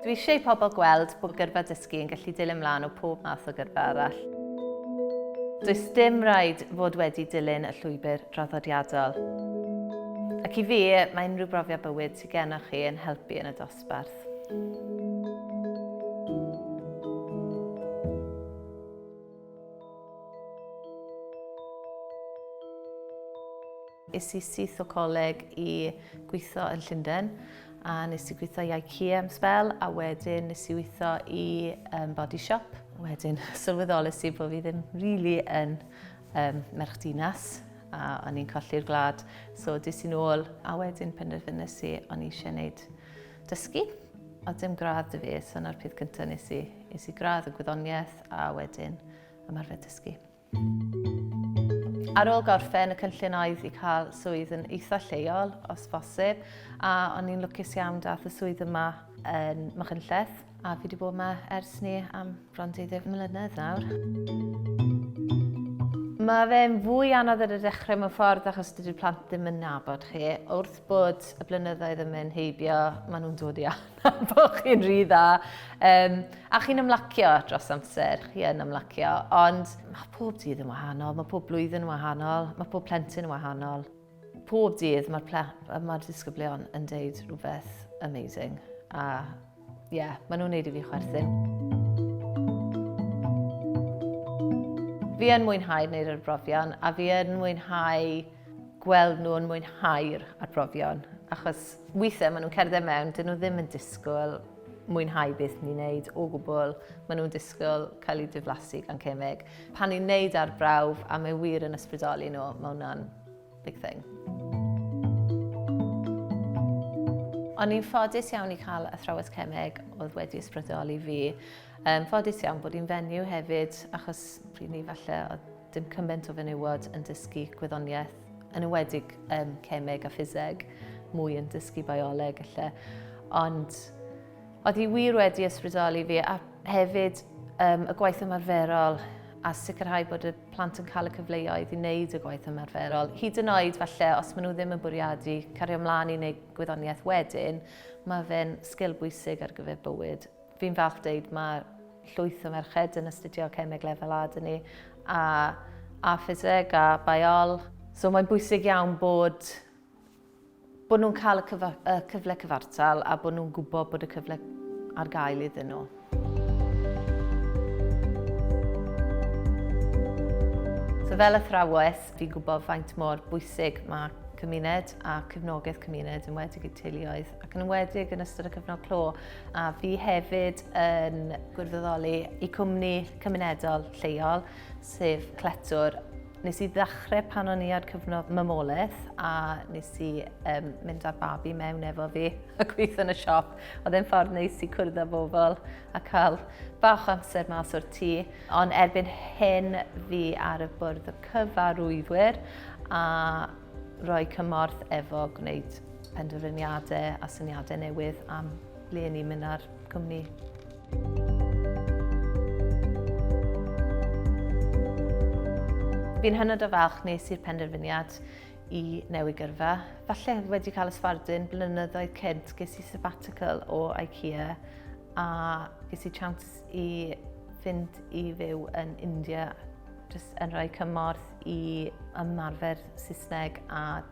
Dwi eisiau i pobl gweld bod gyrfa dysgu yn gallu dilyn mlaen o pob math o gyrfa arall. Does dim rhaid fod wedi dilyn y llwybr draddodiadol. Ac i fi, mae unrhyw brofiad bywyd sydd gennych chi yn helpu yn y dosbarth. Es i syth o coleg i gweithio yn Llundain a nes i gweithio i IKEA am sbel a wedyn nes i weithio i um, body shop. Wedyn sylweddolus i bod fi ddim really yn um, merch dinas a o'n i'n colli'r gwlad. So dis i'n ôl a wedyn penderfynus i o'n i eisiau gwneud dysgu. O dim gradd dy fi, so na'r peth cyntaf nes i, nes i gradd y gwyddoniaeth a wedyn ymarfer dysgu. Ar ôl gorffen, y cynllun oedd i cael swydd yn eitha lleol, os bosib, a o'n i'n lwcus iawn dath y swydd yma yn Machynlleth, a fi wedi bod yma ers ni am bron 20 mlynedd nawr. Mae fe'n fwy anodd ar y dechrau mewn ffordd achos dydy'r plant ddim yn nabod chi. Wrth bod y blynyddoedd yn mynd heibio, maen nhw'n dod i Bo chi'n rhy dda. Um, a chi'n ymlacio dros amser, chi yn ymlacio, ond mae pob dydd yn wahanol, mae pob blwyddyn yn wahanol, mae pob plentyn yn wahanol. Pob dydd mae'r mae disgyblion yn deud rhywbeth amazing. A ie, yeah, maen nhw'n neud i fi chwerthin. Fi yn mwynhau wneud yr brofion a fi yn mwynhau gweld nhw'n mwynhau'r arbrofion, achos weithiau maen nhw'n cerdded mewn, dyn nhw ddim yn disgwyl mwynhau beth ni'n neud o gwbl, maen nhw'n disgwyl cael eu diflasu gan cemeg. Pan ni'n neud arbrawf a mae wir yn ysbrydoli nhw, mae hwnna'n big thing. O'n i'n ffodus iawn i cael athrawes cemeg oedd wedi ysbrydoli fi. Um, ffodus iawn bod i'n fenyw hefyd, achos pryd ni falle oedd Dim cymaint o fenywod yn dysgu gwyddoniaeth, yn ywedig um, cemeg a ffiseg, mwy yn dysgu bioleg lle. Ond oedd hi wir wedi ysbrydoli fi a hefyd um, y gwaith ymarferol a sicrhau bod y plant yn cael y cyfleoedd i wneud y gwaith ymarferol. Hyd yn oed falle, os maen nhw ddim yn bwriadu cario ymlaen i wneud gwyddoniaeth wedyn, mae fe'n sgil bwysig ar gyfer bywyd Fi'n falch dweud mae llwyth o merched yn astudio cemeg lefel A dyn ni, a, a ffiseg, a baiol. So mae'n bwysig iawn bod bod nhw'n cael y, cyfa, y cyfle cyfartal a bod nhw'n gwybod bod y cyfle ar gael iddyn nhw. So fel athrawes, fi'n gwybod faint mor bwysig mae cymuned a cefnogaeth cymuned yn wedi i teuluoedd ac yn enwedig yn ystod y cyfnod clo, a fi hefyd yn gwirfoddoli i cwmni cymunedol lleol, sef Cletwr. Nes i ddechrau pan o'n i ar cyfnod mamolaeth a nes i um, mynd â'r babi mewn efo fi a gweithio yn y siop. Oedd e'n ffordd neis i cwrdd â bobl a cael bach amser mas o'r tŷ. Ond erbyn hyn fi ar y bwrdd o cyfarwyddwyr a Rhoi cymorth efo gwneud penderfyniadau a syniadau newydd am le ni'n mynd â'r cwmni. Fi'n hynod o falch nes i'r penderfyniad i newid gyrfa. Falle wedi cael ysfardun blynyddoedd cynt ges i sabbatical o IKEA a ges i chance i fynd i fyw yn India jyst yn rhoi cymorth i ymarfer Saesneg a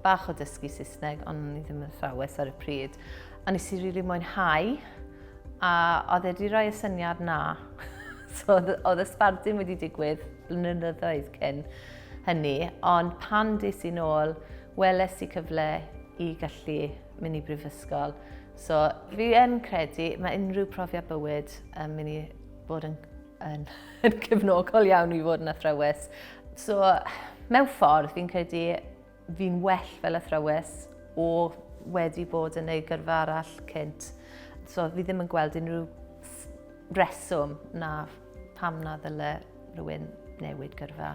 bach o dysgu Saesneg, ond ni ddim yn thrawes ar y pryd. A nes i rili mwynhau, a oedd e wedi rhoi y syniad na. so oedd y sbardun wedi digwydd blynyddoedd cyn hynny, ond pan des i'n ôl, weles i cyfle i gallu mynd i brifysgol. So fi yn credu, mae unrhyw profiad bywyd yn mynd i bod yn yn, yn cefnogol iawn i fod yn athrawes. So, mewn ffordd, fi'n credu fi'n well fel athrawes o wedi bod yn ei gyrfa arall cynt. So, fi ddim yn gweld unrhyw reswm na pam na ddyle rhywun newid gyrfa.